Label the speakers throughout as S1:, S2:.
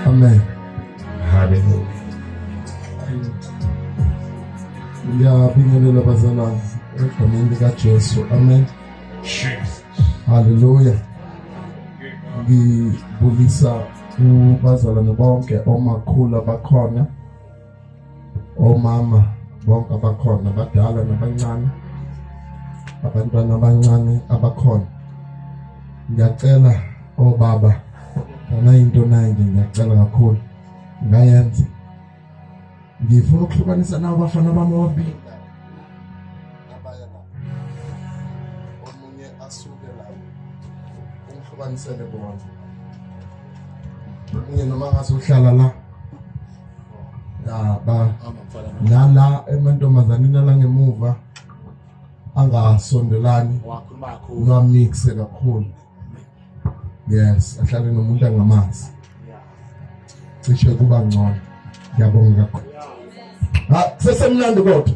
S1: Amen.
S2: Hallelujah.
S1: Ngiyabingelela bazalwane egameni likaJesu. Amen. Jesus.
S2: Hallelujah.
S1: Ngibulisa kubazalwane bonke omakhulu abakhona omama bonke abakhona abadala nabancane abantwana abancane abakhona ngiyacela obaba ngana into naye nje ngiyacela kakhulu ngayenza ngifuna ukuhlukanisa nabo bafana bami ababili ubanisele bona mina noma ngasohlala la ndaba lala emantombazaneni alangemuva angasondelani lwamixe kakhulu yes ahlale nomuntu angamazi cishe kuba ngcono ngiyabonga kakhulu sesemnandi kodwa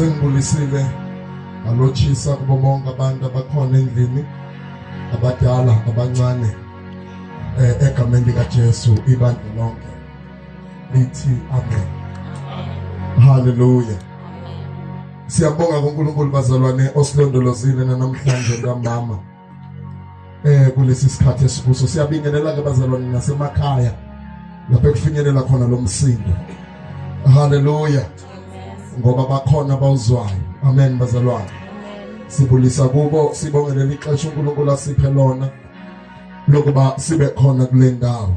S1: sengibulisile ngalotshisa kubo bonke abantu abakhona endlini abadala abancane eh, egameni likaJesu ibandla lonke lithi amen haleluya siyabonga kuNkulunkulu bazalwane osilondolozile namhlanje ntambama eh kulesi sikhathi esibuso siyabingelela ke bazalwane nasemakhaya lapho ekufinyelela khona lo msindo haleluya ngoba bakhona bawuzwayo amen bazalwane sibulisa kubo sibongelele ixesha uNkulunkulu asiphe lona lokuba sibe khona kule ndawo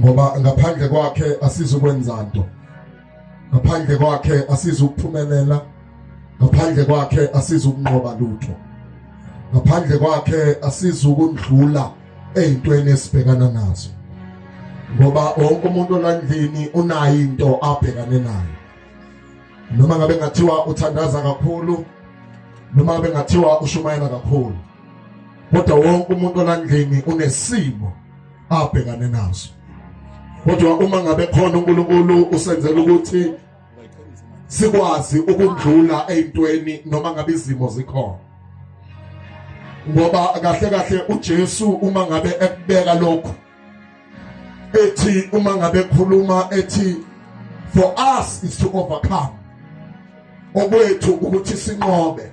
S1: ngoba ngaphandle kwakhe asizukwenza nto ngaphandle kwakhe asizukuphumelela ngaphandle kwakhe asizukunqoba lutho ngaphandle kwakhe asizukundlula ezintweni esibhekana nazo ngoba wonke umuntu olandlini unayo into abhekane nayo noma ngabe ngathiwa uthandaza kakhulu noma ngabe ngathiwa ushumayela kakhulu kodwa wonke umuntu olandlini unesimo abhekane nazo kodwa uma ngabe khona uNkulunkulu usenzela ukuthi sikwazi ukudlula ezintweni noma ngabe izimo zikhona ngoba kahle kahle uJesu uma ngabe ekubeka lokho ethi uma ngabe khuluma ethi for us is to overcome okwethu ukuthi sinqobe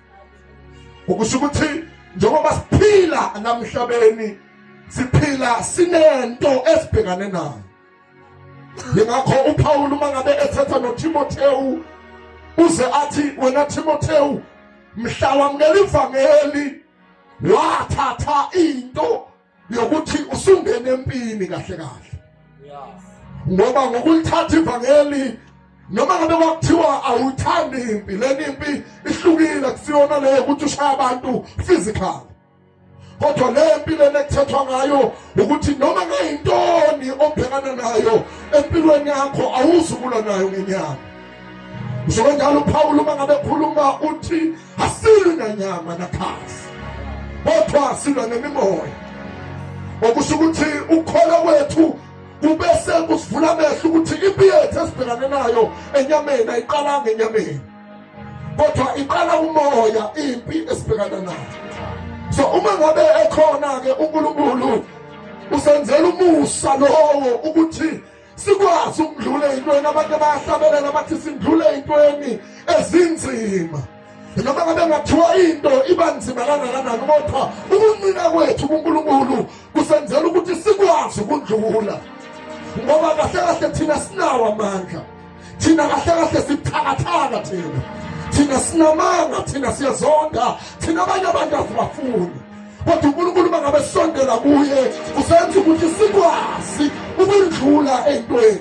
S1: ukusho ukuthi njengoba siphila namhlabeni siphila sinento esibhekane nayo yingakho uPawulu uma ngabe ethetha noTimothewu uze athi wena Timothewu mhla wamukela ivangeli wathatha into yokuthi usungene empini kahle kahle ngoba ngokulithatha ivangeli noma ngabe kwakuthiwa awuthandi impi leni impi ihlukile kusiyona leyo ukuthi ushaya abantu physical kodwa le mpi lena ekuthethwa ngayo ukuthi noma ngayintoni obhekana nayo empilweni yakho awuzukulwa nayo ngenyanga Njengenjalo uPawulu uma ngabe ekhuluma uthi asilwi nanyama nakhazi kodwa silwa nemimoya okusho ukuthi ukholo wethu kubese kusivula amehlo ukuthi impi yethu esibhekane nayo enyameni ayiqalanga enyameni kodwa iqala umoya impi esibhekana nayo so uma ngabe ekhona-ke unkulunkulu usenzela umusa lowo ukuthi sikwazi ukudlula eyintweni abantu abayahlabelela bathi sindlule eyintweni ezinzima noma ngabe ngathiwa into iba nzima kangakanani kodwa ukuncina kwethu kunkulunkulu kusenzela ukuthi sikwazi ukudlula ngoba kahle kahle thina sinawo amandla thina kahle kahle sibuthakathaka thina thina sinamanga thina siyazonda thina abanye abantu asibafuni kodwa unkulunkulu uma ngabe sisondela kuye usenza ukuthi sikwazi ukundlula entweni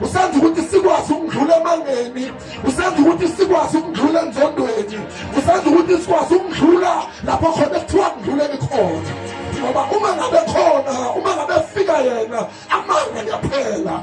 S1: usenza ukuthi sikwazi ukudlula emangeni usenza ukuthi sikwazi ukudlula enzondweni usenza ukuthi sikwazi ukudlula lapho khona kuthiwa kudluleni khona ngoba uma ngabe khona uma ngabe fika yena amanga ngiyaphela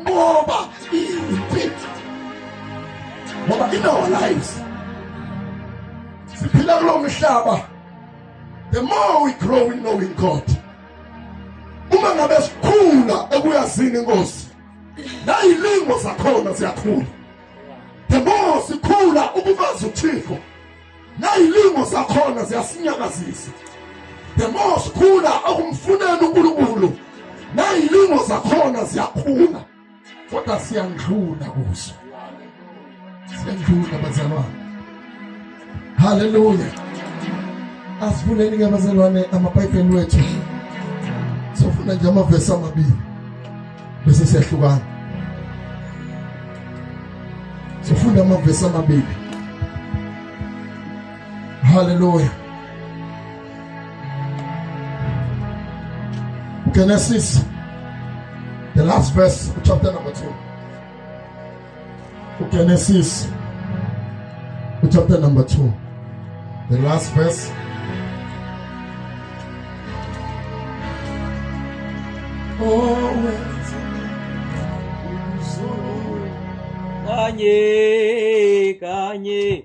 S1: ngoba iphi ngoba in our lives siphila kulo mhlaba the more we grow in knowing God uma ngabe sikhula ekuyazini inkosi nayilingo zakhona ziyakhula the more sikhula ukubaza uthixo nayilimo zakhona ziyasinyakazisa the more sikhula okumfunela uNkulunkulu nayilimo zakhona ziyakhula kodwa siyandlula kuzo siyandlula bazalwane haleluya asivuleni ke bazalwane amabhayibheli wethu sofuna nje amavesi amabili bese siyahlukana sifunda amavesi amabili haleluya Genesis, the last verse, chapter number 2. uGenesis chapter number 2 the last verse always
S3: kanye kanye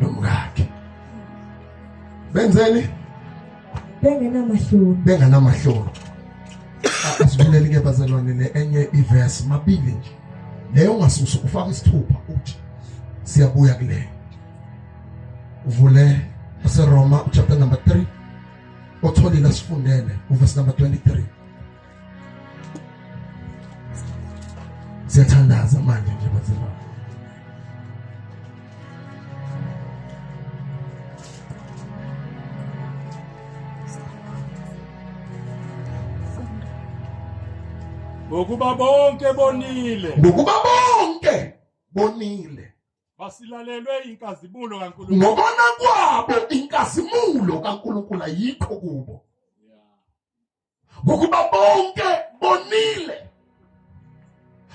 S1: nomkakhe benzeni bengenamahloni bengenamahloni asibuleli ke bazalwane le enye iverse mabili nje leyo ungasusa ufaka isithupha uthi siyabuya kuleyo uvule aseroma chapter number 3 otholile asifundele uverse number 23 siyathandaza manje nje bazima ngokuba
S3: bonke bonile ngokuba bonke bonile basilalelwe inkazimulo kaNkulunkulu ngokona kwabo
S1: inkazimulo kaNkulunkulu ayikho kubo ngokuba bonke bonile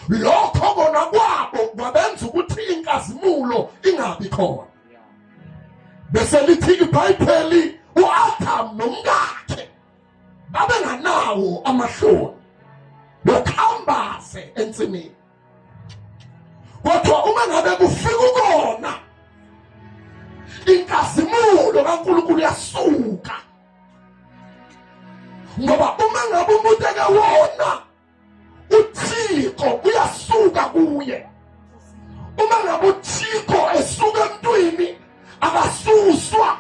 S1: lokho kona kwabo kwabenza ukuthi inkazimulo ingabi khona bese lithi ibhayibheli uAdam nomkakhe babenganawo amahloni bokhambaze ensimini kodwa uma ngabe kufika ukona inkazimulo kaNkulunkulu yasuka ngoba uma ngabe umuntu ekewona uthixo uyasuka kuye uma ngabe uthixo esuka emntwini akasuswa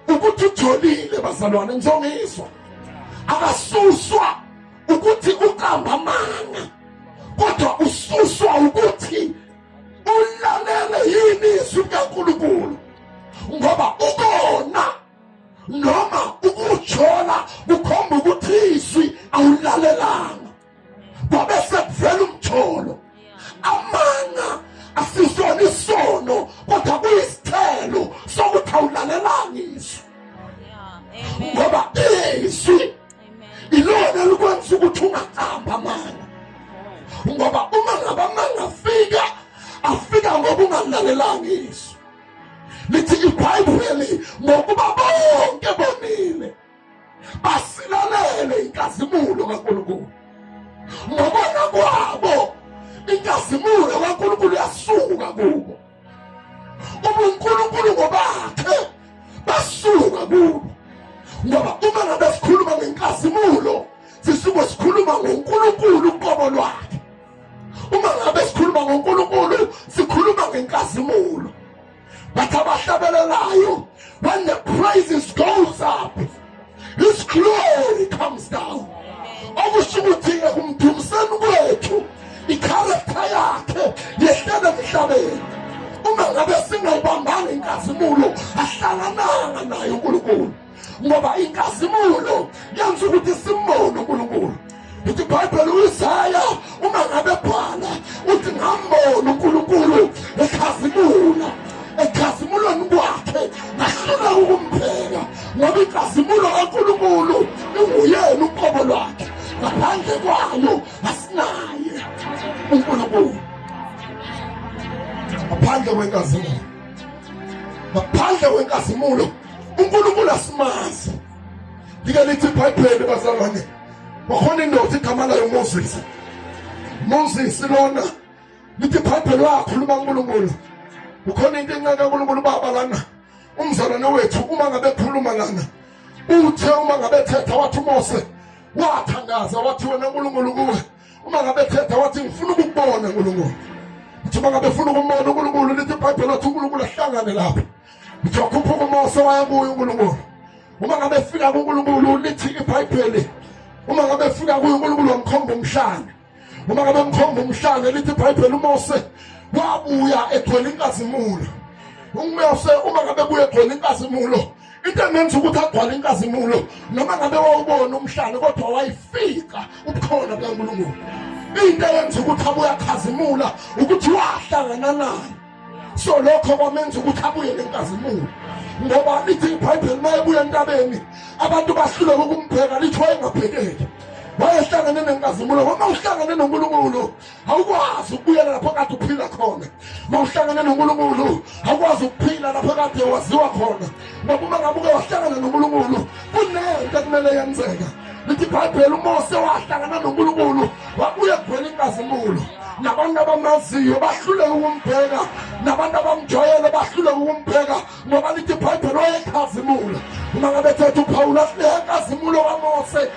S1: ukuthi ujolile bazalwane ngizongizwa akasuswa ukuthi uqamba amanga kodwa ususwa ukuthi ulalele yini izwi likankulunkulu ngoba ukona noma ukuthola kukhomba ukuthi izwi awulalelanga kwabe sekuvela umtholo amanga asisona isono kodwa kuyisithelo sokuthi awulalelanga izwi ngoba izwi ilona likwenza ukuthi ungaqambi amanga ngoba uma ngabamanga afika afika ngoba ungalalelanga izwi lithi ibhayibheli ngokuba bonke bonile basilalele inkazimulo kaNkulunkulu ngokona kwabo inkazimulo kaNkulunkulu yasuka kubo ubunkulunkulu ngobakhe basuka kubo ngoba uma ngabe sikhuluma ngenkazimulo sisuke sikhuluma ngoNkulunkulu uqobo lwakhe uma ngabe sikhuluma ngoNkulunkulu sikhuluma ngenkazimulo bathi abahlabelelayo when the praises goes up his glory comes down okusho ukuthi ekumdumiseni kwethu ikharektha yakhe yehlele emhlabeni uma ngabe singayibambanga inkazimulo ahlangananga naye unkulunkulu ngoba inkazimulo yenza ukuthi simbone uNkulunkulu ithi ibhayibheli uyisaya uma ngabe bhala uthi ngambona uNkulunkulu ekhazimula ekhazimulweni kwakhe ngahluleka ukumpheka ngoba inkazimulo kaNkulunkulu inguyena uqobo lwakhe ngaphandle kwayo asinaye uNkulunkulu ngaphandle kwenkazimulo ngaphandle kwenkazimulo uNkulunkulu asimazi like lithi ibhayibheli bazalwane wakhona indoda igama layo moses moses lona lithi ibhayibheli wakhuluma unkulunkulu ukhona into encane kankulunkulu baba lana umzalwane wethu uma ngabe khuluma lana uthe uma ngabe thetha wathi umose wathandaza wathi wena nkulunkulu kuwe uma ngabe thetha wathi ngifuna ukukubona nkulunkulu uthi uma ngabe funa ukumbona unkulunkulu lithi ibhayibheli wathi unkulunkulu ahlangane lapho ngizokhuphuka umoso waya kuye unkulunkulu uma ngabe fika kunkulunkulu lithi ibhayibheli uma ngabe fika kuye unkulunkulu wamkhomba umhlanga uma ngabe mkhomba umhlanga lithi ibhayibheli umose wabuya egcwele inkazimulo umose uma ngabe buye egcwele inkazimulo into engenza ukuthi agcwale inkazimulo noma ngabe wawubona umhlanga kodwa wayifika ubukhona bukankulunkulu into eyenza ukuthi abuyakhazimula ukuthi wahlangana nayo so lokho kwamenza ukuthi abuye nenkazimulo ngoba lithi ibhayibheli uma ebuya entabeni abantu bahluleka ukumbheka lithi wayengabhekeki wayehlangene nenkazimulo uma uhlangene nonkulunkulu awukwazi ukubuyela lapho kade uphila khona uma uhlangene nonkulunkulu awukwazi ukuphila lapho kade waziwa khona ngoba uma ngabe uke wahlangana nonkulunkulu kunento ekumele yenzeka lithi ibhayibheli umose wahlangana nonkulunkulu wabuye kuvela inkazimulo nabantu abamaziyo bahluleke ukumbheka nabantu abamjwayele bahluleke ukumbheka ngoba lithi ibhayibheli wayekhazimula uma ngabe thetha uphawula asinenkazimulo kamose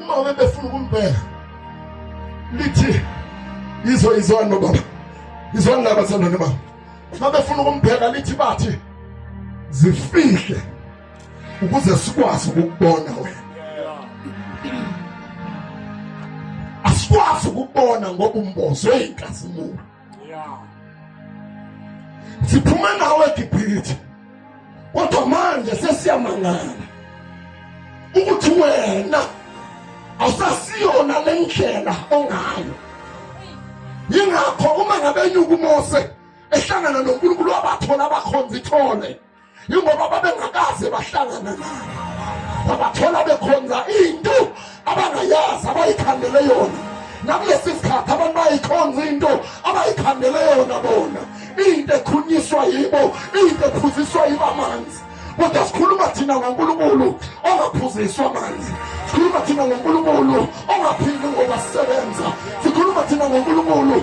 S1: uma ube befuna ukumbheka lithi izo izwani nobaba izwani laba sandane baba uma befuna ukumbheka lithi bathi zifihle ukuze sikwazi ukubona wena asikwazi ukubona ngoba umbozwe inkazimulo Yeah. Siphume nawe eGibhithe. Kodwa manje sesiyamangala ukuthi wena awusasiyona lendlela ongayo. Yingakho uma ngabe nyuka uMose ehlangana noNkulunkulu wabathola abakhonza ithole. yingoba babengakaze bahlangana naye babathola bekhonza into abangayazi abayikhandele yona nakulesi sikhathi abantu bayikhonza into abayikhandele yona bona into ekhunyiswa yibo into ephuziswa yibo amanzi kodwa sikhuluma thina ngonkulunkulu ongaphuziswa amanzi sikhuluma thina ngonkulunkulu ongaphili ngoba sisebenza sikhuluma thina ngonkulunkulu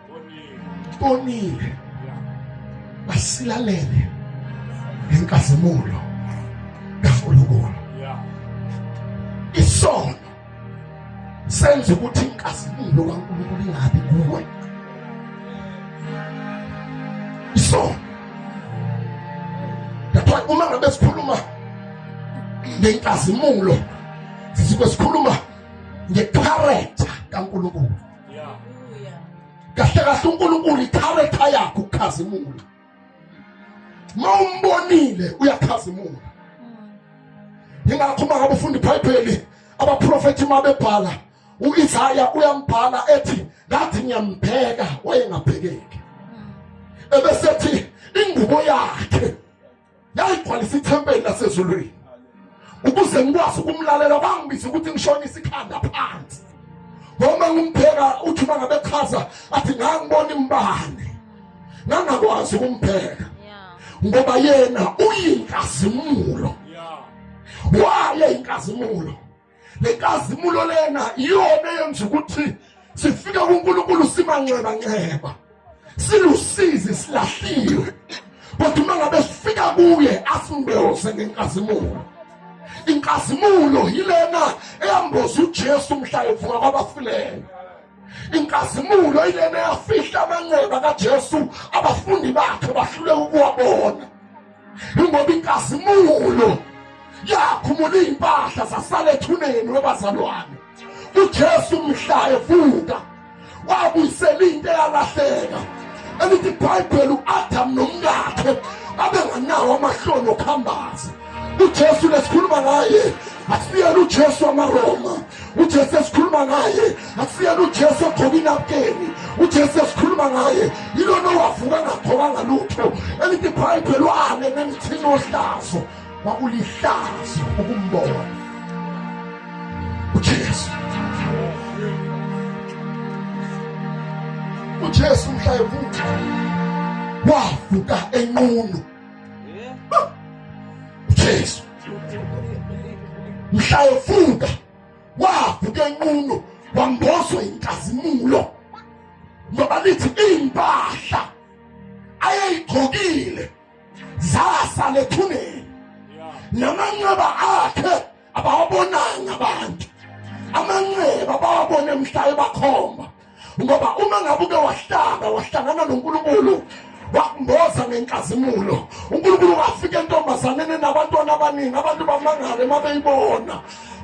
S1: bonile basilalele ngenkazimulo kaNkulunkulu isono senza ukuthi inkazimulo kaNkulunkulu ingabi kuwe isono lapho uma ngabe sikhuluma ngenkazimulo sisuke sikhuluma ngecharacter kaNkulunkulu kahle kahle unkulunkulu ikharetha yakho ukhazimula ma umbonile uyakhazimula yingakho uma ngabe ufunda ibhayibheli abaprofethi uma bebhala u-isaya uyambhala ethi ngathi ngiyambheka wayengabhekeki ebesethi ingubo yakhe yayigcwalisa ithempeli lasezulwini ukuze ngikwazi ukumlalela bangibiza ukuthi ngishonise ikhanda phansi noma ngimpheka uthi uma ngabe chaza athi ngangibona imbane ngangakwazi ukumpheka ngoba yena uyinkazimulo wale inkazimulo le nkazimulo lena iyona eyenza ukuthi sifike kuNkulunkulu simanxeba nxeba silusizi silahliwe kodwa uma ngabe sifika kuye asimboze ngenkazimulo inkazimulo yilena eyamboza uJesu mhla evuka kwabafileyo inkazimulo yilena eyafihla amanxeba kaJesu abafundi bakhe bahluleka ukuwabona ingoba inkazimulo yakhumula iy'mpahla zasala ethuneni webazalwane ujesu mhla evuka wabuyisela into eyalahleka elithi ibhayibheli u-adamu nomkakhe abenganawo amahloni okuhambaza ujesu lesikhuluma ngaye asiyena ujesu wamaroma ujesu esikhuluma ngaye akusiyena ujesu ogcoka inapukeni ujesu esikhuluma ngaye yilona owavuka ngagcokanga lutho elithi ibhayibheli wane nemithini ohlazo kwakulihlazo ukumbona ujesu ujesu mhla evuka wavuka enqunu Jesu mhla evuka wavuka enqunu wambozwa inkazimulo ngoba lithi impahla ayeyigqokile zasala ethuneni namanxeba akhe abawabonanga abantu amanxeba abawabone mhla ebakhomba ngoba uma ngabe uke wahlala wahlangana nonkulunkulu wakumboza ngenkazimulo unkulunkulu wafika entombazaneni nabantwana abaningi abantu bamangale uma beyibona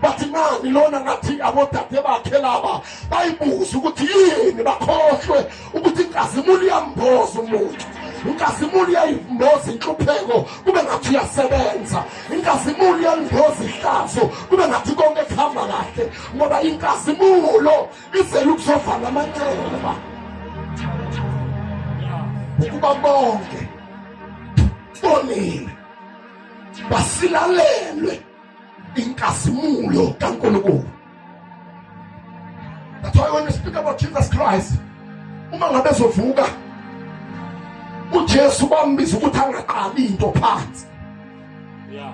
S1: bathi ngani lona ngathi abodade bakhe laba bayibuza ukuthi yini bakhohlwe ukuthi inkazimulo iyamboza umuntu inkazimulo iyayimboza inhlupheko kube ngathi uyasebenza inkazimulo iyalingoza ihlazo kube ngathi konke kuhamba kahle ngoba inkazimulo izele ukuzovala amanxeba ukuba bonke bonile basilalelwe inkazimulo kaNkulunkulu That's why when you speak about Jesus Christ, uma ngabe ezovuka uJesu bambiza ukuthi angaqali into phansi. Yeah.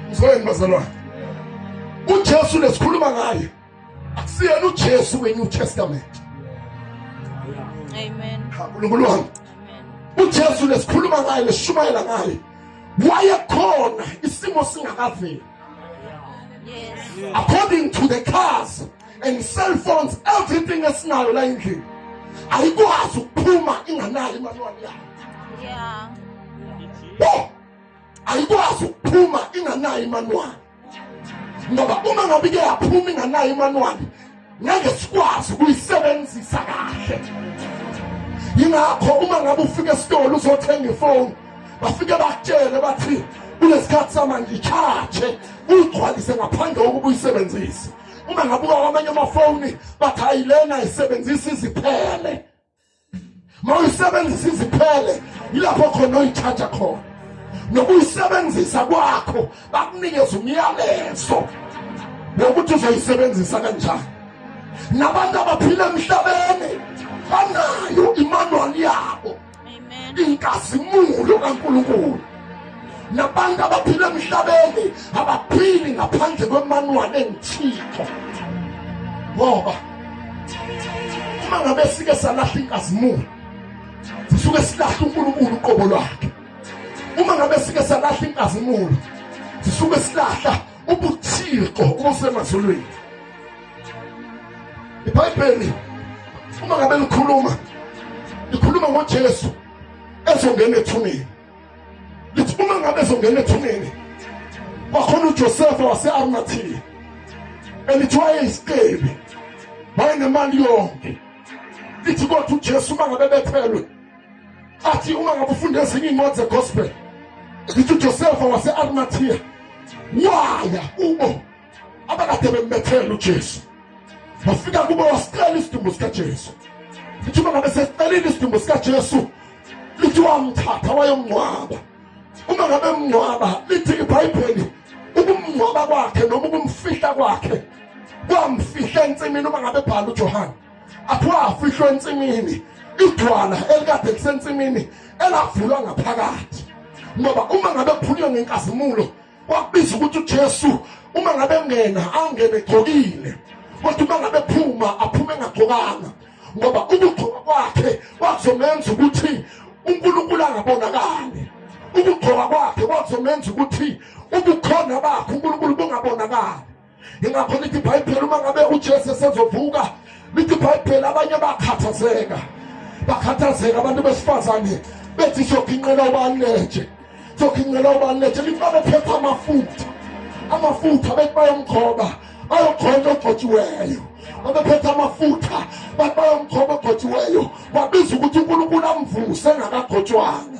S1: Ngizweni bazalwane. uJesu lesikhuluma ngaye akusiyena uJesu weNew Testament.
S4: Amen. Nkulunkulu wami.
S1: uJesu lesikhuluma ngaye leshumayela ngaye wayekhona isimo singakaveli
S4: yes. according to
S1: the cars and cell phones everything esinayo la endlini ayikwazi ukuphuma inganayo imanwani yayo yeah. oh, ayikwazi ukuphuma inganayo imanwani ngoba uma ngabe ike yaphuma inganayo imanwani ngeke sikwazi ukuyisebenzisa kahle yingakho uma ngabe ufika esitolo uzothenga ifoni bafike bakutshele bathi kunesikhathi samanje charge uyigcwalise ngaphandle kokuba uyisebenzise uma ngabuka kwamanye amafoni bathi ayilena isebenzisa iziphele mawuyisebenzisa iziphele yilapho khona oyithatha khona nokuyisebenzisa kwakho bakunikeza umyalezo wokuthi uzoyisebenzisa kanjani nabantu abaphila emhlabeni banayo imanuwali yabo
S4: inkazimulo
S1: kaNkulunkulu nabantu abaphila emhlabeni abaphili ngaphandle kwemanwane engithixo ngoba uma ngabe sike salahla inkazimulo sisuke silahla uNkulunkulu uqobo lwakhe uma ngabe sike salahla inkazimulo sisuke silahla ubuthixo obusemazulwini ibhayibheli uma ngabe likhuluma likhuluma ngojesu ezongena ethuneni lithi uma ngabe ezongena ethuneni kwakhona ujosefa wase-arimathiya elithi wayeyisicebi wayenemali yonke lithi kodwa ujesu uma ngabe bethelwe athi uma ngabe ufunda ezinye iy'ncwadi zegospel ngithi ujosefa wase-arimathiya waya kubo abakade bembethela ujesu wafika kubo wasicela isidumbu sikajesu lithi uma ngabe sesicelile isidumbu sikajesu lithi wamthatha wayomngcwaba uma ngabe mngcwaba lithi ibhayibheli ukumngcwaba kwakhe noma ukumfihla kwakhe kwamfihla ensimini uma ngabe bhala ujohane athiwa afihlwe ensimini idwala elikade lisensimini elavulwa ngaphakathi ngoba uma ngabe kuphunyiwe ngenkazimulo kwakubiza ukuthi uJesu uma ngabe ngena angene egcokile kodwa uma ngabe phuma aphume engagcokanga ngoba ukugcoka kwakhe kwakuzomenza ukuthi uNkulunkulu angabonakali ukugcoka kwakhe kwakuzomenza ukuthi ubukhona bakhe uNkulunkulu bungabonakali ingakho lithi ibhayibheli uma ngabe ujesu esezovuka lithi ibhayibheli abanye bakhathazeka bakhathazeka abantu besifazane bethi soginqela ubaletshe soginqela ubaletshe lithi babephetha amafutha amafutha bethi bayomkhoba bayogcona ogcotshiweyo babephethe amafutha bathi bayomkhoba ogcotshiweyo babiza ukuthi unkulunkulu amvuse engakagotshwanga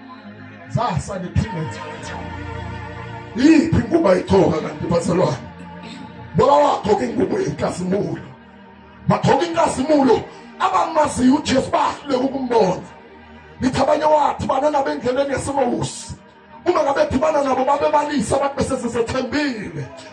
S1: zasa ngiphinde yiphi ingubo ayigcoka kanti bazalwane baba wagcoka ingubo yenkazimulo bagcoka inkazimulo abamaziyo ujesu bahluleka ukumbona ngithi abanye wathi banana bendleleni yesimusi uma ngabe dhibana nabo babebalisa abantu besesesethembile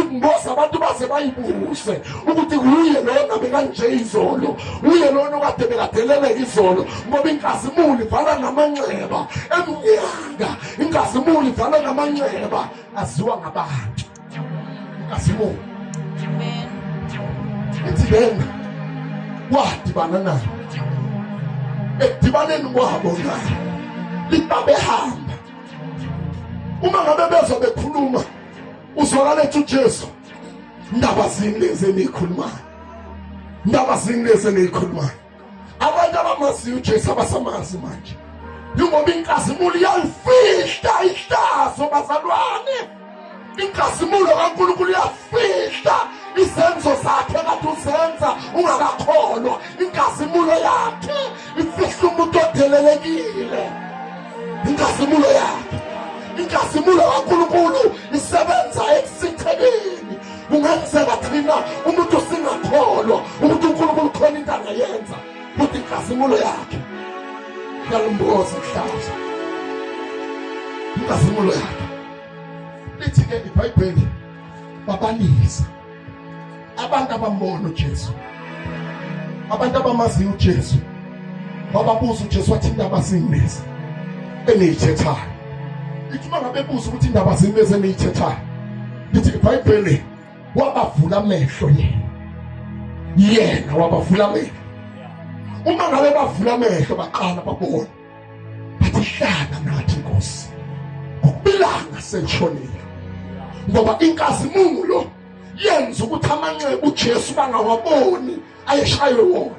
S1: ingozi abantu baze bayibuze ukuthi wuye lona bekanje izolo wuye lona okade bekadeleleka izolo ngoba inkazimuli ivala namanxeba emnyanga inkazimuli ivala namanxeba aziwa ngabantu inkazimuli ithi lena wadibana nayo ekudibaneni kwabo nayo liba behamba uma ngabe bezwa bekhuluma uzwakala ethi uJesu ndaba zini lezi eniyikhulumayo ndaba zini lezi eniyikhulumayo abantu abamaziyo uJesu abasamazi manje yingoba inkazimulo iyalifihla ihlazo bazalwane inkazimulo kaNkulunkulu iyafihla izenzo zakhe kade uzenza ungakakholwa inkazimulo yakhe Imfihlo umuntu odelelekile inkazimulo yakhe inkazimulo kaNkulunkulu isebenza ekusithekeni kungenzeka thina umuntu singakholwa ukuthi uNkulunkulu khona into angayenza futhi inkazimulo yakhe yalimboza ihlazo inkazimulo yakhe lithi-ke ibhayibheli babanisa abantu abambona uJesu abantu abamaziyo uJesu wababuza uJesu wathi indaba singibeza eniyithethayo ithi uma ngabe buza ukuthi indaba zingibeza eniyithethayo lithi ibhayibheli wabavula amehlo yena yena wabavula amehlo uma ngabe bavula amehlo baqala babona Akuhlanga nathi Nkosi. Ukubilanga senshonile. Ngoba inkazimulo yenza ukuthi amanxeba uJesu bangawaboni ayeshaywe wona.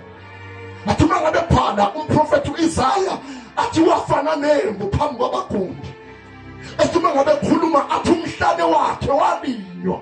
S1: Athi uma ngabe phana umprofethi uIsaya athi wafana nembu phambi kwabagundi. Athi uma ngabe khuluma athi umhlane wakhe walinywa.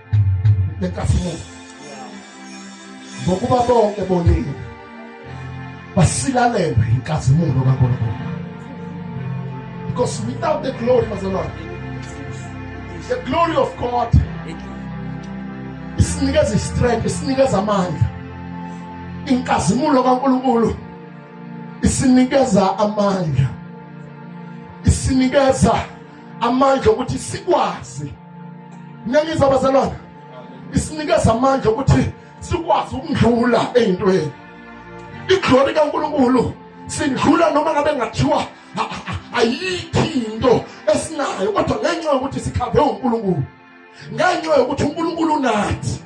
S1: benkazimulo ngokuba bonke bonile basilalelwe inkazimulo kaNkulunkulu because without the glory bazalwane the glory of God isinikeza istrength isinikeza amandla inkazimulo kaNkulunkulu isinikeza amandla isinikeza amandla okuthi sikwazi niyangizwa bazalwane isinikeza amandla ukuthi sikwazi ukundlula eyintweni iglori kaNkulunkulu sindlula noma ngabe ngathiwa ayikho into esinayo kodwa ngenxa yokuthi sikhave uNkulunkulu ngenxa yokuthi uNkulunkulu unathi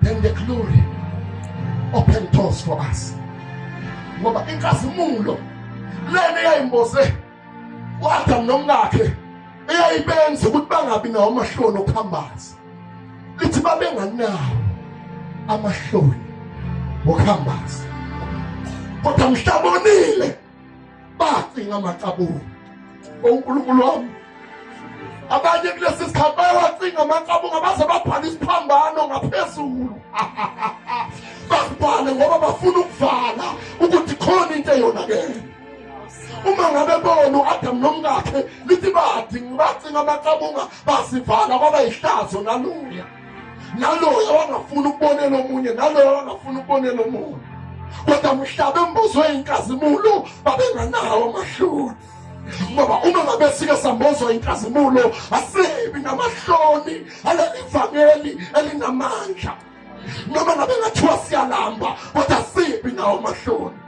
S1: then the glory open doors for us ngoba inkazimulo lena eyayimboze u-adamu nomkakhe eyayibenza ukuthi bangabi nawo amahloni okuhambaza lithi babenganawo amahloni okuhambaza kodwa mhlabonile bacinga amacabulo onkulunkulu wami abanye kulesi sikhathi bayawacinga amacabulo abaze babhala isiphambano ngaphezulu bakubhale ngoba bafuna ukuvala ukuthi khona into eyonakele uma ngabe bona u-adamu nomkakhe lithi badingi bacinga amaqabunga basivala kwaba yihlazo naluya naloyo wangafuni ukubonela omunye naloyo wangafuni ukubonela omunye kodwa mhlaba embuzwe inkazimulo babenganawo amahloni ngoba uma ngabe sike sambozwa inkazimulo asibi namahloni aleli vangeli elinamandla noma ngabe ngathiwa siyalamba kodwa sibi nawo amahloni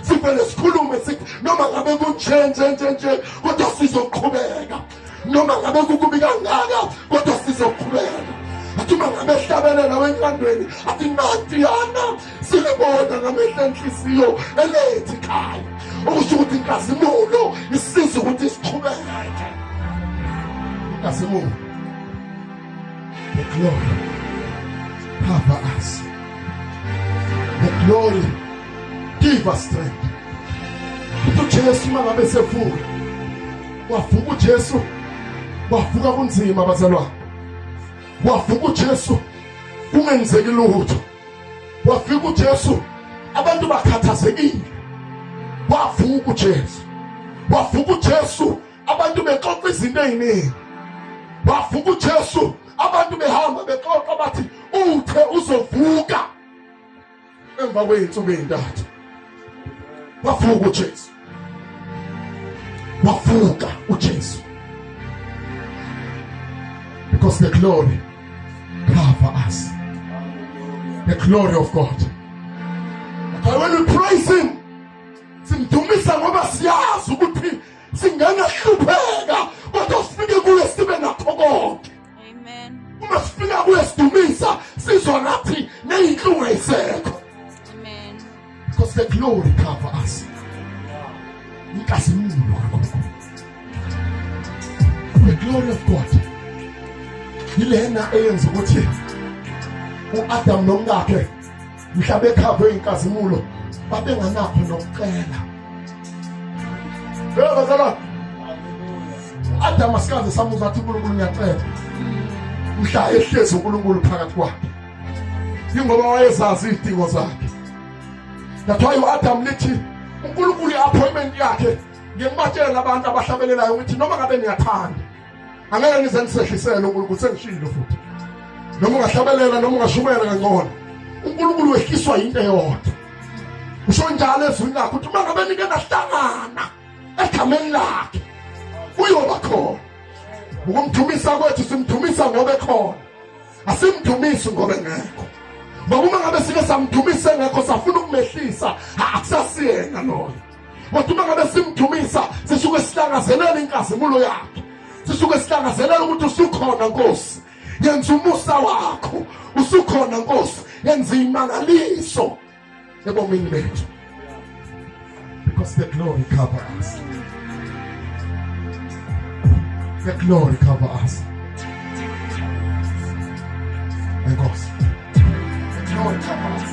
S1: sivele sikhulume sithi noma ngabe kunje nje nje nje kodwa sizoqhubeka noma ngabe kukubi kangaka kodwa sizoqhubeka athi uma ngabe ehlabelela wenkandweni athi natiyana silibona ngamehla enhliziyo elethi khaya okusho ukuthi inkazimulo isiza ukuthi siqhubeke inkazimulo The glory cover us. The glory give us strength. UJesu mangabe sevuka wavuka uJesu wavuka kunzima bazalwane wavuka uJesu kungenzeki lutho wafika uJesu abantu bakhathazekile wavuka uJesu wavuka uJesu abantu bexoxa izinto eziningi wavuka uJesu abantu behamba bexoxa bathi uthe uzovuka emva kweyinsuku ezintathu wavuka uJesu wavuka uJesu because the glory cover us the glory of God but when we praise him simdumisa ngoba siyazi ukuthi singangahlupheka kodwa sifike kuye sibe nakho konke
S4: uma sifika
S1: kuye sidumisa sizwa ngathi neyinhlungu ayisekho
S4: because the
S1: glory cover us inkazimulo kakhulu the glory of god yilena eyenza ukuthi uAdam nomkakhe mhla bekhavwe inkazimulo babenganakho nokucela Phela bazalwane Adam asikaze samuzwa athi uNkulunkulu ngiyacela mhla ehlezi uNkulunkulu phakathi kwakhe ingoba wayezazi izidingo zakhe that's why uAdam lithi uNkulunkulu iappointment yakhe ngimatshela abantu abahlabelelayo ukuthi noma ngabe niyathanda angeke ngize ngisehlisele uNkulunkulu sengishilo futhi noma ungahlabelela noma ungashumayela kangcono uNkulunkulu wehliswa into eyodwa usho njalo ezwini lakhe ukuthi uma ngabe nike nahlangana egameni lakhe uyoba khona ukumthumisa kwethu simthumisa ngoba ekhona asimthumisi ngoba engekho ngoba uma ngabe sike samthumisa engekho safuna ukumehlisa akusasiyena loyo kodwa uma ngabe simdumisa sisuke silangazelela inkazimulo yakhe sisuke silangazelela ukuthi usukhona nkosi yenza umusa wakho usukhona nkosi yenza imangaliso ebomini bethu because the glory cover us the glory cover us enkosi the glory cover us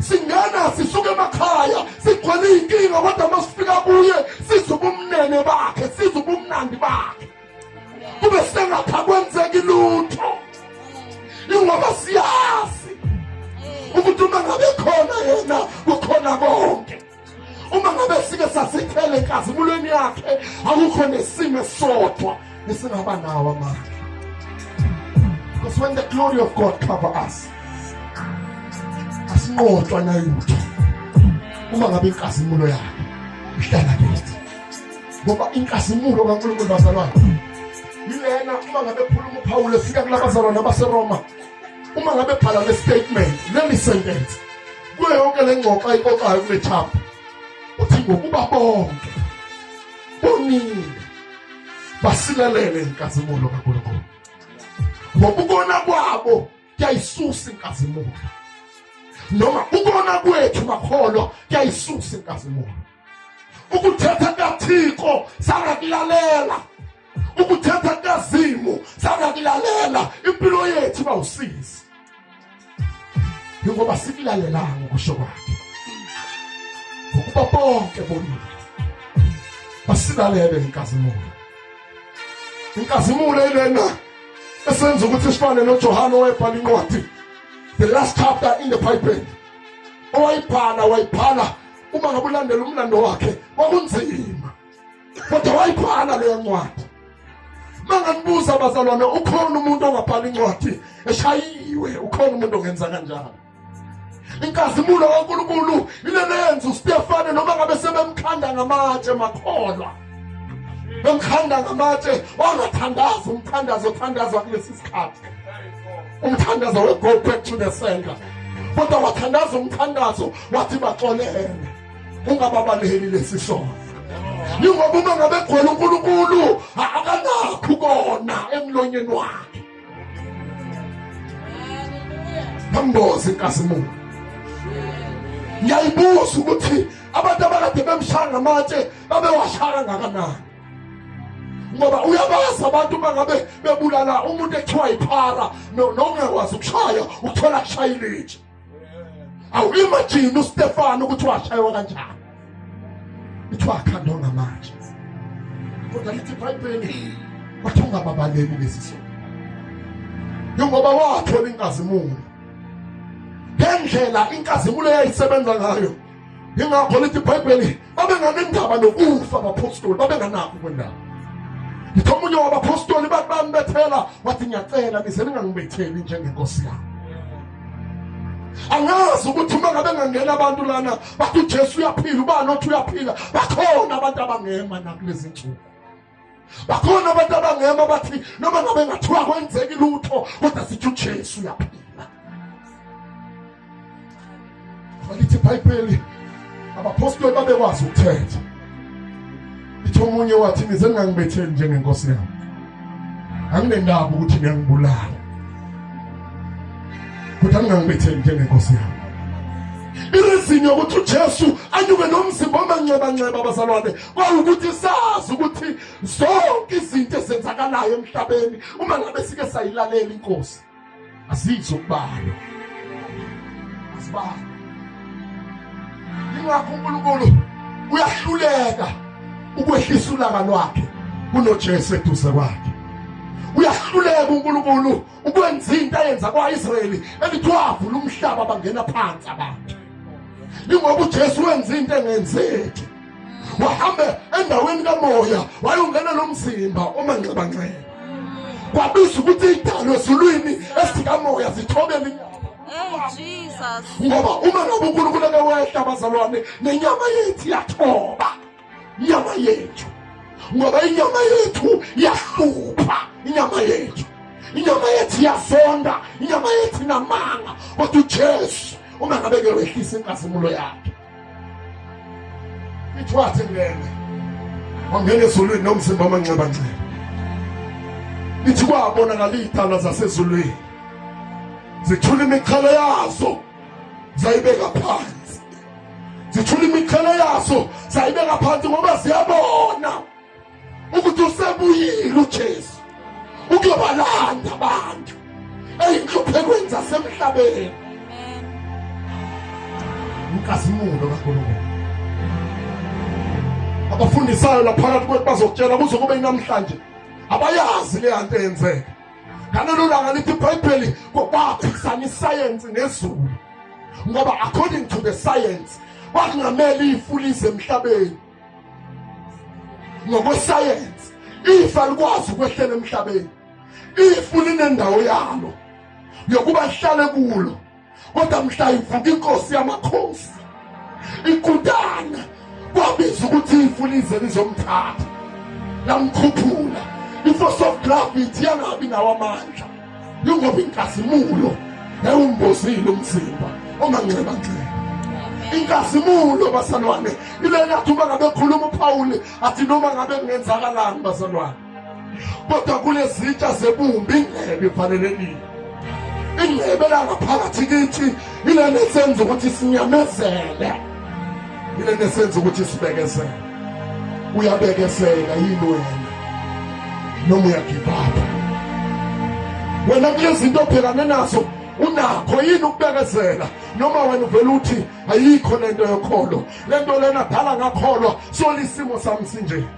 S1: singena sisuke emakhaya sigcwele iy'nkinga kodwa uma sifika kuye size ubumnene bakhe size ubumnandi bakhe kube sengapha kwenzeki lutho ingoba siyazi ukuthi uma ngabe khona yena kukhona konke uma ngabe sike sasithele enkazimulweni yakhe akukho nesimo esisodwa esingaba nawo amandla because when the glory of god cover us asinqotshwa nayutho uma ngabe inkazimulo yakhe ihlala kithi ngoba inkazimulo kankulunkulu bazalwane yilena uma ngabe khuluma uphawule fika kulabazalwane abaseroma uma ngabe bhala le statement leli sentence kuyo yonke le ngxoxo ayixoxayo kule chapter uthi ngokuba bonke bonile basilelele inkazimulo kaNkulunkulu ngokubona kwabo kuyayisusa inkazimulo noma ukona kwethu makholwa kuyayisusa inkazimulo ukuthetha kukathixo sangakulalela ukuthetha kukazimu sangakulalela impilo yethu iba usizi yingoba sikulalelanga ukusho kwakhe ukuba bonke bonile basilalele inkazimulo inkazimulo ilena esenza ukuthi sifane noJohane owebhala incwadi the last chapter in the bible owayibhala wayibhala uma ngabe ulandela umlando wakhe kwakunzima kodwa wayibhala leyo ncwadi manganibuza abazalwane ukhona umuntu ongabhala incwadi eshayiwe ukhona umuntu ongenza kanjalo inkazimulo kaNkulunkulu ilelenza uStefane noma ngabe sebemkhanda ngamatshe makholwa bemkhanda ngamatshe wangathandaza umthandazo othandazwa kulesi sikhathi umthandazo we go back to the sender kodwa wathandaza umthandazo wathi baxolele ungababaleli lesi sono yingoba uma ngabe gcwele unkulunkulu akanakho kona emlonyeni wakhe bamboze inkazimulo ngiyayibuza ukuthi abantu abakade bemshaya ngamatshe babewashaya ngakanani ngoba uyabazi abantu uma ngabe bebulala umuntu ekuthiwa yiphara nongekwazi ukushaya ukuthola kushaya ilitshe awuyimajini ustefano ukuthi washaywa kanjani kuthiwa akhanda ongamanje kodwa lithi ibhayibheli wathi ungababaleki kulesi sona njengoba wathola inkazimulo ngendlela inkazimulo eyayisebenza ngayo ingakho lithi ibhayibheli babenganendaba nokufa abaphostoli babenganakho kwendaba ngithe omunye wabaphostoli bathi bambethela wathi ngiyacela nize ningangibetheli njengenkosi yami angazi ukuthi uma ngabe ngangena abantu lana bathi ujesu uyaphila ubani othi uyaphila bakhona abantu abangema nakulezi nsuku bakhona abantu abangema bathi noma ngabe ngathiwa kwenzeki lutho kodwa sithi uJesu uyaphila balithi ibhayibheli abapostoli babekwazi ukuthetha litho omunye wathi nize ngangibetheli njengenkosi yami anginendaba ukuthi ngiyangibulala kodwa ngingangibetheli njengenkosi yami irezinyo ukuthi uJesu anyuke nomzimba omanxeba nxeba abazalwane kwawukuthi sazi ukuthi zonke izinto ezenzakalayo emhlabeni uma ngabe sike sayilalela inkosi azizo kubalo asibalo ingakho uNkulunkulu uyahluleka ukwehlisa ulaka lwakhe kunoJesu eduze kwakhe uyahluleka uNkulunkulu ukwenza into ayenza kwa-israyeli elithi wavula umhlaba bangena phansi abantu ingoba ujesu wenza into engenzeki wahambe endaweni kamoya wayongena lo mzimba omanxebanxeba kwabizwa ukuthi idalo ezulwini esikamoya zithobele inyama
S4: ngoba uma
S1: ngabe unkulunkulu ake wehla bazalwane nenyama yethu yathoba inyama yethu ngoba inyama yethu iyahlupha inyama yethu inyama yethu iyazonda inyama yethu inamanga kodwa ujesu uma ngabe ke wehlisa inkazimulo yakhe ithwathe ngene wangena ezulwini nomzimba amanxebanxeba ithi kwabonakala iy'dalwa zasezulwini zithula imikhala yazo zayibeka phansi zithula imiqhele yaso sayibeka phansi ngoba siyabona ukuthi usebuyile uJesu ukuyobalanda abantu eyinhluphekweni zasemhlabeni umkazimulo kaNkulunkulu abafundisayo laphakathi kwethu bazokutshela kuze kube namhlanje abayazi leyanto eyenzeka ngalelo langa lithi ibhayibheli kwaphikisana isayensi nezulu ngoba according to the science kwakungamele ifu lize emhlabeni ngokwesayensi ifa likwazi ukwehlela emhlabeni ifu linendawo yalo yokuba lihlale kulo kodwa mhla ivuka inkosi yamakhosi ikutana kwabiza ukuthi ifu lize lizomthatha lamkhuphula i-force of gravity yangabi nawo amandla yingoba inkazimulo yawumbozile umzimba omanxebanxeba inkazimulo bazalwane ile yathi uma ngabe khuluma uphawule athi noma ngabe kungenzakalani bazalwane kodwa kunezitsha zebumbi indlebe ivalelekile indlebe langaphakathi kithi ilento esenza ukuthi sinyamezele ilento esenza ukuthi sibekezele uyabekezela yini wena noma uyagibaba wena kulezinto obhekane nazo unakho yini ukubekezela noma wena uvela uthi ayikho lento yokholo lento lena dala ngakholwa solisimo sami sinje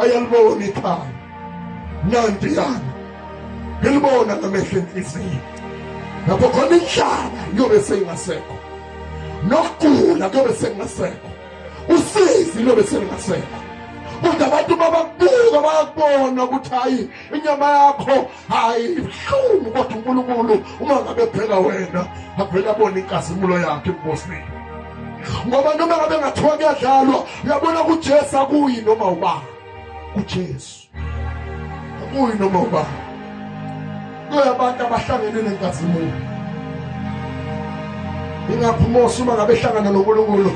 S1: ayalibona ikhaya nanti yami ngilibona ngamehlo enhliziyo lapho khona inhlaba iyobe seyingasekho nokugula kuyobe sekungasekho usizi luyobe selingasekho kodwa abantu bababuka bayakubona ukuthi hayi inyama yakho hayi ibuhlungu kodwa unkulunkulu uma ngabe phela wena avele abone inkazimulo yakhe ebubosini ngoba noma ngabe ngathiwa kuyadlalwa uyabona kujesu akuyi noma uba kujesu akuyi noma uba kuyabantu abahlangene nenkazimulo ingakho umose uma ngabe ehlangana nonkulunkulu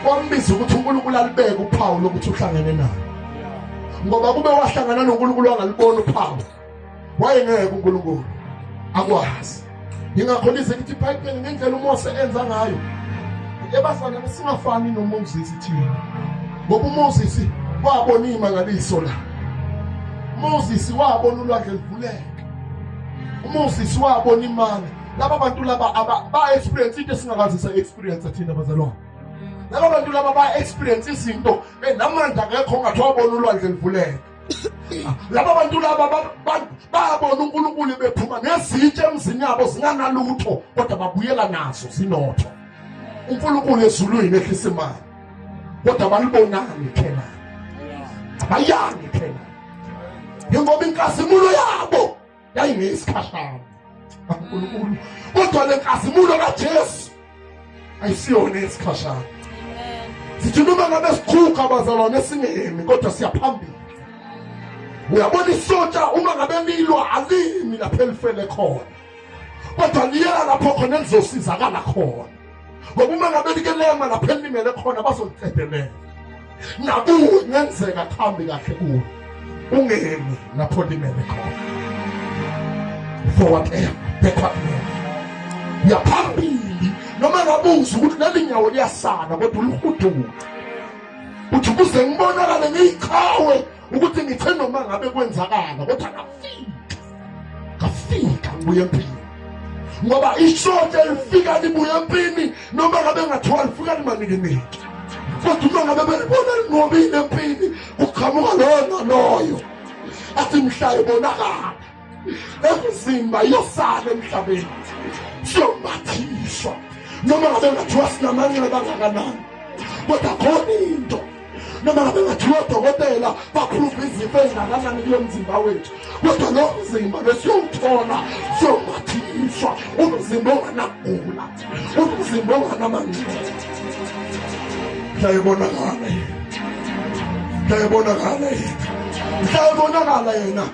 S1: wambiza ukuthi unkulunkulu alibeke uphawu lokuthi uhlangene naye ngoba kube wahlangana noNkulunkulu angalibona uphawu wayengeke uNkulunkulu akwazi yingakho lize lithi ibhayibheli ngendlela umose enza ngayo ebazalwane singafani nomoses thina ngoba umoses wabona iyimangaliso la umoses wabona ulwandle livuleka umoses wabona imana laba bantu laba ba-experience into esingakazi sa-experience thina bazalwane laba bantu laba ba-experience izinto namanje akekho ongathi wabona ulwandle livuleka laba bantu laba babona unkulunkulu bephuma nezitshe emzini yabo zinganalutho kodwa babuyela nazo zinotho unkulunkulu ezulwini ehlisa imali kodwa balibonani khena bayani khena njengoba inkazimulo yabo yayingeyisikhashana uNkulunkulu kodwa lenkazimulo kaJesu ayisiyona isikhashana sithi noma ngabe sikhukha abazalwane singemi kodwa siyaphambili uyabona isontsha uma ngabe lilwa alimi lapho elifele khona kodwa liyela lapho khona elizosizakala khona ngoba uma ngabe likelema lapho elimele khona bazolicedelela nakuwe kungenzeka kuhambe kahle kuwe ungemi lapho limele khona for whatever backward man yaphambili noma ngabuza ukuthi leli nyawo liyasana kodwa uluhuduka uthi kuze ngibonakale ngiyiqhawe ukuthi ngithe noma ngabe kwenzakala kodwa ngafika ngafika ngibuye empini ngoba ishote lifika libuye empini noma ngabe ngathiwa lifika limanikiniki kodwa uma ngabe belibona lingobile empini kuqhamuka loyo naloyo athi mhlayo bonakala emzimba iyosala emhlabeni siyomathiswa noma ngabe ngathiwa sinamanxeba angakanani kodwa khona into noma ngabe ngathiwa odokotela baphupha izifo ezingakanani kulo mzimba wethu kodwa lo mzimba besiyowuthola siyomathiswa umzimba onganagula umzimba onganamanxeba ndayibonakala ndayibonakala ndayibonakala yena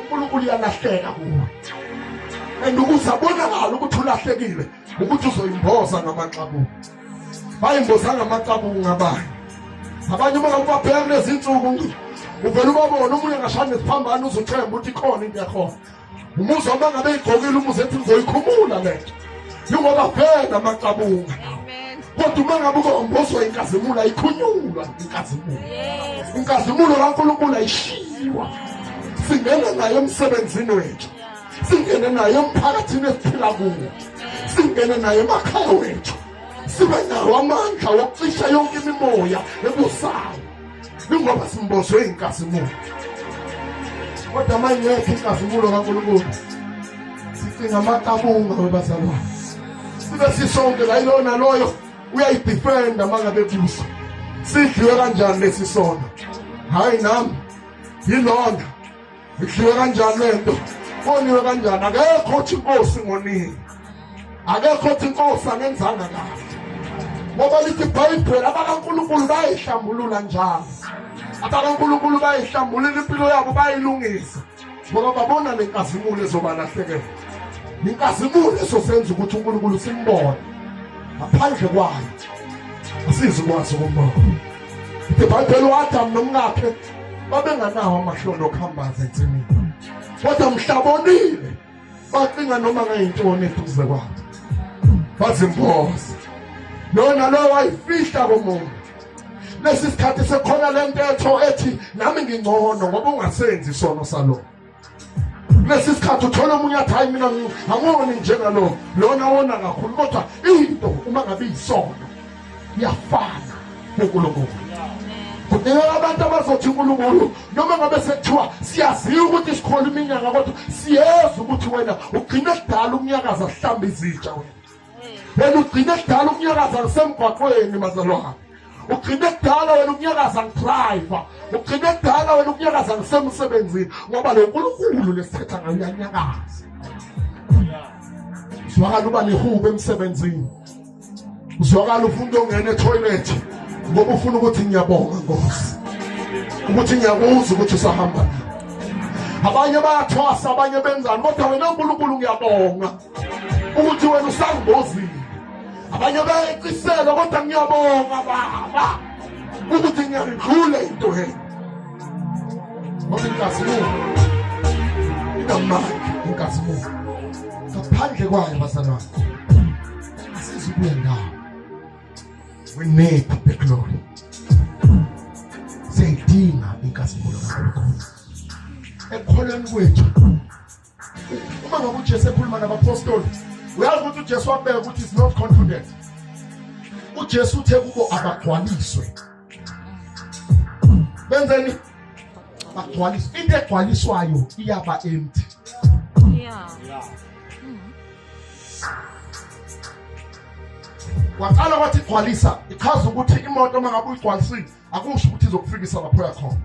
S1: uNkulunkulu uyalahleka kuwe and ukuze abonakala ukuthi ulahlekile ukuthi uzoyimboza ngamaxabuko bayimboza ngamaxabuko ngabanye abanye uma ubabheka kulezi nsuku uvele ubabona omunye angashani nesiphambano uzuthemba ukuthi khona into yakhona umuzi wami angabe igqokile umuzi ethi ngizoyikhumula le nto njengoba vele amaqabunga kodwa uma ngabe ukombozwa inkazimulo ayikhunyulwa inkazimulo inkazimulo kankulunkulu ayishiywa singene nayo emsebenzini wethu singene nayo emphakathini esiphila kuwo singene nayo emakhaya wethu sibe nawo amandla wokucisha yonke imimoya ebusayo Kungoba simboshwe inkazimulo. Kodwa manje yethu inkazimulo kaNkulunkulu. Sicinga amaqabunga webazalwane. Sibe sisonke la ilona loyo uyayidefenda mangabe kuso. Sidliwe kanjani lesi sono? Hayi nami yilona idliwe kanjani lento koniwe kanjani akekho othi inkosi ngonini akekho othi inkosi anenzanga kahle ngoba lithi ibhayibheli abakankulunkulu bayayihlambulula njalo abakankulunkulu bayayihlambulula impilo yabo bayilungisa ngoba babona le nkazimulo ezobalahlekela inkazimulo esosenza ukuthi unkulunkulu simbone ngaphandle kwayo asizikwazi ukumbona ibhayibheli uadamu nomkakhe babenganawo amahloni okuhambaza ensimini kodwa mhlabonile bacinga noma ngayintoni eduze kwabo bazimboze lona lo wayifihla komuntu lesi sikhathi sekhona lento etho ethi nami ngingcono ngoba ungasenzi isono salona kulesi sikhathi uthola omunye athi hayi mina angoni njengalo lona wona kakhulu kodwa into uma ngabe iyisono iyafana nonkulunkulu kudingeka abantu abazothi unkulunkulu noma ngabe sekuthiwa siyaziwa ukuthi sikhona iminyaka kodwa siyeza ukuthi wena ugcine kudala ukunyakaza sihlamba izitsha wena wena ugcine kudala ukunyakaza ngisemgwaqweni mazalwane ugcine kudala wena ukunyakaza ngidrayiva ugcine kudala wena ukunyakaza ngisemsebenzini ngoba lo nkulunkulu lesithetha ngayo uyanyakaza uzwakala uba nehubo emsebenzini uzwakala ufuna into ongena ethoyilethi ngoba ufuna ukuthi ngiyabonga nkosi ukuthi ngiyakuzwa ukuthi usahamba abanye bayathwasa abanye benzani kodwa wena nkulunkulu ngiyabonga ukuthi wena usangozini abanye bayecisela kodwa ngiyabonga baba ukuthi ngiyayidlula into he ngobenkazimuka inamandla inkazimuka ngaphandle kwayo bazana wakho asizukuya ndawo we need the glory siyayidinga inkazimulo kakhulukhulu ekholweni kwethu uma ngabe uJesu ekhuluma nabapostoli uyazi ukuthi uJesu wabeka ukuthi is not confident uJesu uthe kubo abagcwaliswe benzeni bagcwaliswe into egcwaliswayo iyaba empty waqala wathi gcwalisa ichaza ukuthi imoto uma ngabe uyigcwalisile akusho ukuthi izokufikisa lapho yakhona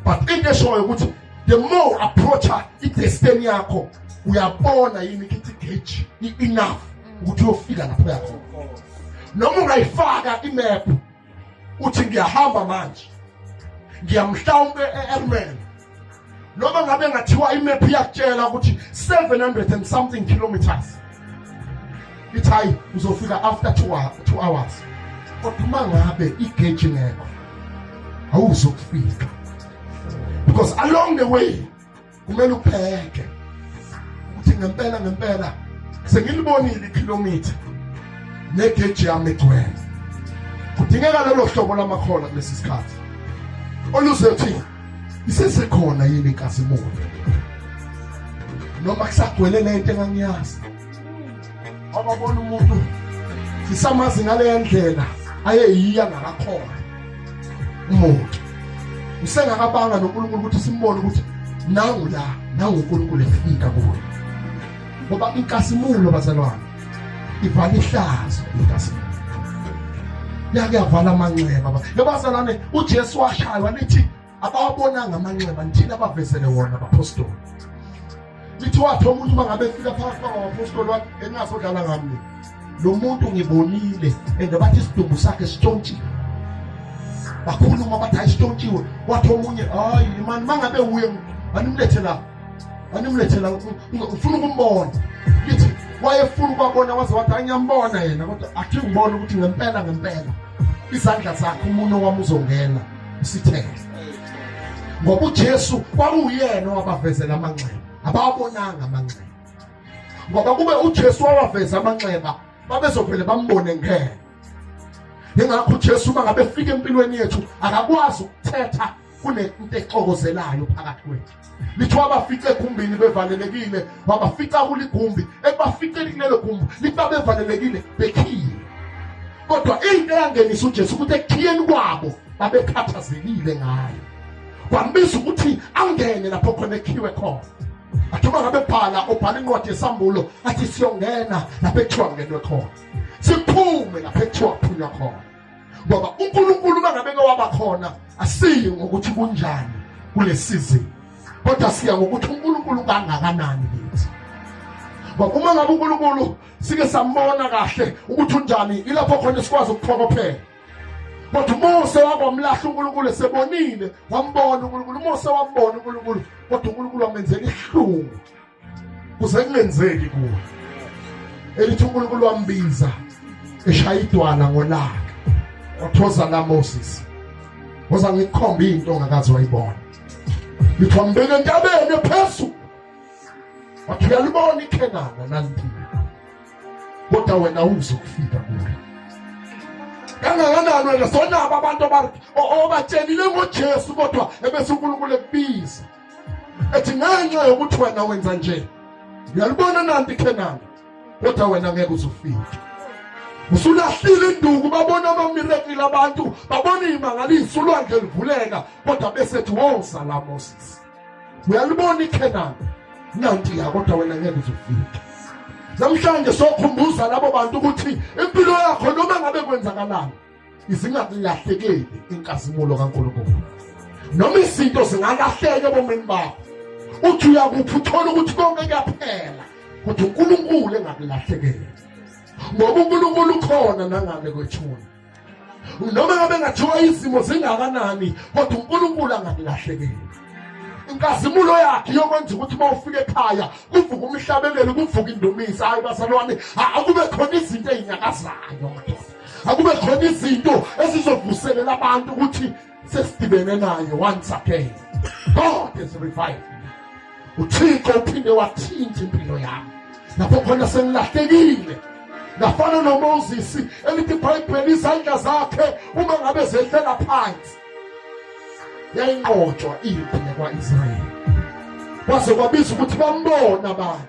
S1: but into eshoyo ukuthi the more approacha idestiny yakho uyabona yini ukuthi gauge enough ukuthi uyofika lapho yakho noma ungayifaka imap uthi ngiyahamba manje ngiyamhlawumbe e-airman noma ngabe ngathiwa imap iyakutshela ukuthi 700 and something kilometers ithi hayi uzofika after two, two hours kodwa uma ngabe igeji ngekho awuzokufika because along the way kumele upheke ukuthi ngempela ngempela sengilibonile ikhilomitha negeji yami egcwele kudingeka lolo hlobo lamakhola kulesi sikhathi oluzothi isesekhona yini inkazimulo noma kusagcwele lento engangiyazi ababona umuntu sisamazi ngaleya ndlela ayeyiya ngakakhona umuntu usengakabanga noNkulunkulu ukuthi simbone ukuthi nangu la nangu uNkulunkulu efika kuwe ngoba inkazimulo bazalwane ivala ihlazo intasimini yakuyavala amanxeba yabazalwane ujesu washaywa nithi abawabonanga amanxeba nithini abavezele wona abapostoli nithi wathi omuntu uma ngabe efika phakathi kwabapostoli wakhe engasodlala ngamni lo muntu ngibonile and bathi isidumbu sakhe sitshontshile bakhuluma bathi ayisitshotshiwe wathi omunye hayi mani mangabe wuye animlethe la wanimlethela ufuna ukumbona lithi wayefuna ukwabona waze wathi angiyambona yena kodwa athi ngibona ukuthi ngempela ngempela izandla zakhe umuntu wami uzongena usithele ngoba uJesu kwakuyena owabavezela amanxeba abawabonanga amanxeba ngoba kube uJesu wawaveza amanxeba babezovele bambone ngeke ingakho uJesu uma ngabe fika empilweni yethu akakwazi ukuthetha kunento exokozelayo phakathi kwethu lithiwa abafice egumbini bevalelekile wabafica kuligumbi ekubaficeni kulelo gumbi lithiwa bevalelekile bekhiye kodwa into eyangenisa ujesu ukuthi ekukhiyeni kwabo babekhathazekile ngayo kwambiza ukuthi angene lapho khona ekhiwe khona athuma ngabe bhala obhala incwadi yesambulo athi siyongena lapho ekuthiwa ngenwe khona siphume lapho ekuthiwa phunywa khona ngoba uNkulunkulu mangabeke wabakhona asiyi ngokuthi kunjani kulesizini kodwa siya ngokuthi uNkulunkulu kangakanani kithi ngoba uma ngabe uNkulunkulu sike sambona kahle ukuthi unjani ilapho khona sikwazi ukuphokophela kodwa uMose wakwamlahla uNkulunkulu esebonile wambona uNkulunkulu uMose wambona uNkulunkulu kodwa uNkulunkulu wamenzela ihlungu kuze kungenzeki kuwe elithi uNkulunkulu wambiza eshaya idwala ngolaka wathoza la Moses ngoza ngikhomba into ongakazi wayibona lithi wambeka entabeni ephezulu wathi uyalibona ikhenana naliphila kodwa wena uzokufika kulo kangakanani wena sonabo abantu obatshelile ngojesu kodwa ebese unkulunkulu ekubiza ethi ngenxa yokuthi wena wenza nje uyalibona nanti khenani kodwa wena ngeke uzufike usulahlile induku babona amamirekile abantu babona iy'mangaliso ulwandle livuleka kodwa besethi wo sala moses uyalibona ikhenani nanti ya kodwa wena ngeke uzufike namhlanje sokhumbuza labo bantu ukuthi impilo yakho noma ngabe kwenzakalani zingakulahlekeli inkazimulo kaNkulunkulu noma izinto zingalahleka ebomini bakho uthi uyakuphi uthole ukuthi konke kuyaphela kodwa uNkulunkulu engakulahlekeli ngoba uNkulunkulu ukhona nangale kwethuna noma ngabe ngathiwa izimo zingakanani kodwa uNkulunkulu angakulahlekeli inkazimulo yakhe yokwenza ukuthi uma ufika ekhaya kuvuka umhlabelelo kuvuka indumisa hayi bazalwane akube khona izinto ezinyakazayo madoda akube khona izinto ezizovuselela abantu ukuthi sesidibene naye once again god is revived uthixo uphinde wathinta impilo yami lapho khona sengilahlekile ngafana nomoses elithi ibhayibheli izandla zakhe uma ngabe zehlela phansi yayinqotshwa impi yakwa-israyeli kwaze kwabiza ukuthi bambona abantu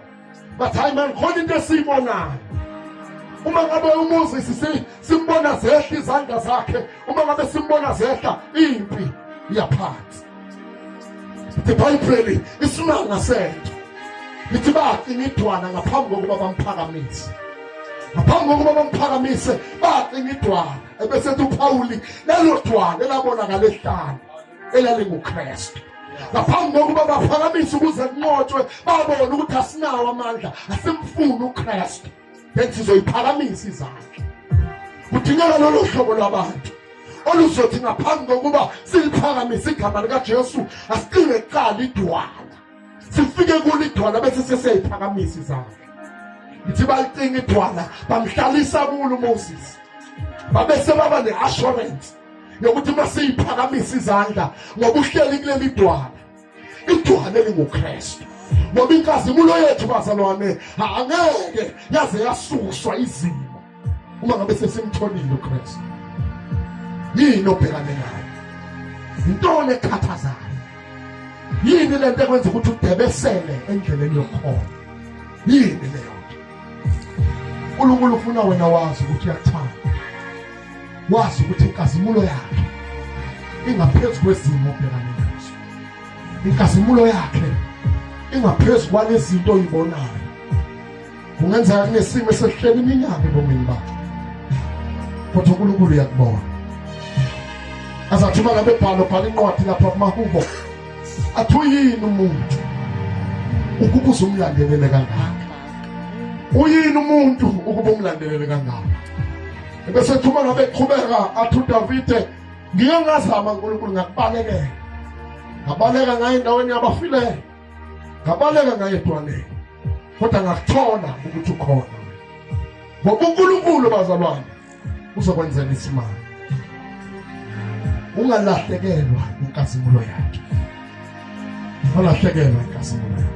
S1: bathi hayi mani khona into esiyibonayo uma ngabe umuzi sisi simbona zehla izandla zakhe uma ngabe simbona zehla impi yaphansi the bible isimanga sento lithi baqina idwana ngaphambi kokuba bamphakamise ngaphambi kokuba bamphakamise baqina idwana ebesethi uphawuli lelo dwana elabonakala ehlane elalinguKristu ngaphambi kokuba baphakamise ukuze kunqotshwe babone ukuthi asinawo amandla asimfuni uKristu bethi sizoyiphakamisa izandla kudingeka lolo hlobo lwabantu oluzothi ngaphambi kokuba siliphakamise igama likaJesu asiqinge kuqala idwala sifike kulo idwala bese sesiyayiphakamisa izandla ngithi balicinga idwala bamhlalisa kulo uMoses babe sebaba ne-assurance yokuthi uma siyiphakamisa izandla ngoba uhleli kule midwana idwana elingukristu ngoba inkazimulo yethu bazalwane angeke yaze yasuswa izimo uma ngabe sesimtholile ukristu yini obhekane nayo yintoni ekhathazayo yini le nto ekwenza ukuthi udebesele endleleni yokukhona yini leyo nto unkulunkulu ufuna wena wazi ukuthi uyakuthanda wazi ukuthi inkazimulo yakhe ingaphezu kwezimo obhekane nazo inkazimulo yakhe ingaphezu kwalezinto oyibonayo kungenzeka kunesimo esihleli iminyaka ebomini bakhe kodwa uNkulunkulu uyakubona azathuma nabebhalo bhala incwadi lapha kumahubo athi uyini umuntu ukuba uzumlandelele kangaka uyini umuntu ukuba umlandelele kangaka ebesethuma ngabe eqhubeka athi udavide ngike ngazama nkulunkulu ngakubalekela ngabaleka ngaye endaweni yabafileyo ngabaleka ngaye edwaneni kodwa ngakuthola ukuthi ukhona ngoba unkulunkulu bazalwane uzokwenzela isimali ungalahlekelwa inkazimulo yakhe ungalahlekelwa inkazimulo yakhe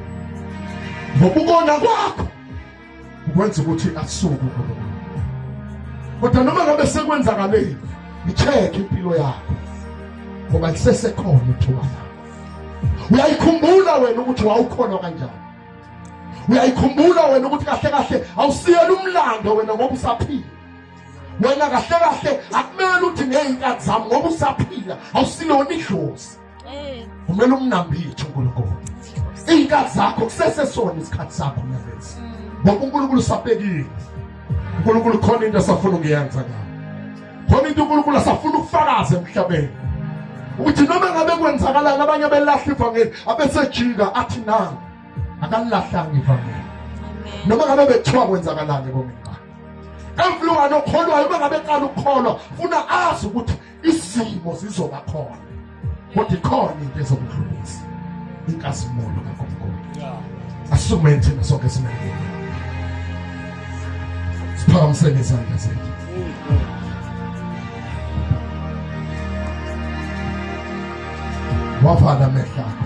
S1: ngokubona kwakho kwenza ukuthi asuke kodwa noma ngabe sekwenzakaleni icheck impilo yakho ngoba lisesekhona ithuba lakho uyayikhumbula wena ukuthi wawukhona kanjani uyayikhumbula wena ukuthi kahle kahle awusiyela umlando wena ngoba usaphila wena kahle kahle akumele uthi ngeyinkathi zami ngoba usaphila awusilona idlozi kumele umnambithe uNkulunkulu iy'nkathi zakho kusesesona isikhathi sakho nalesi mm. ngoba uNkulunkulu usabekile uNkulunkulu khona into asafuna ukuyenza ngayo khona into uNkulunkulu asafuna ukufakaza emhlabeni ukuthi noma ngabe kwenzakalani abanye abelahla ivangeli abesejika athi na akalilahlanga ivangeli noma ngabe bethiwa kwenzakalani komina everyone okholwayo uma ngabe qala ukukholwa funa azi ukuthi izimo zizoba khona kodwa ikhona into ezokudlulisa inkazimulo kaNkulunkulu asukume thina sonke simele siphakamisele izandla zethu wavala amehlo akho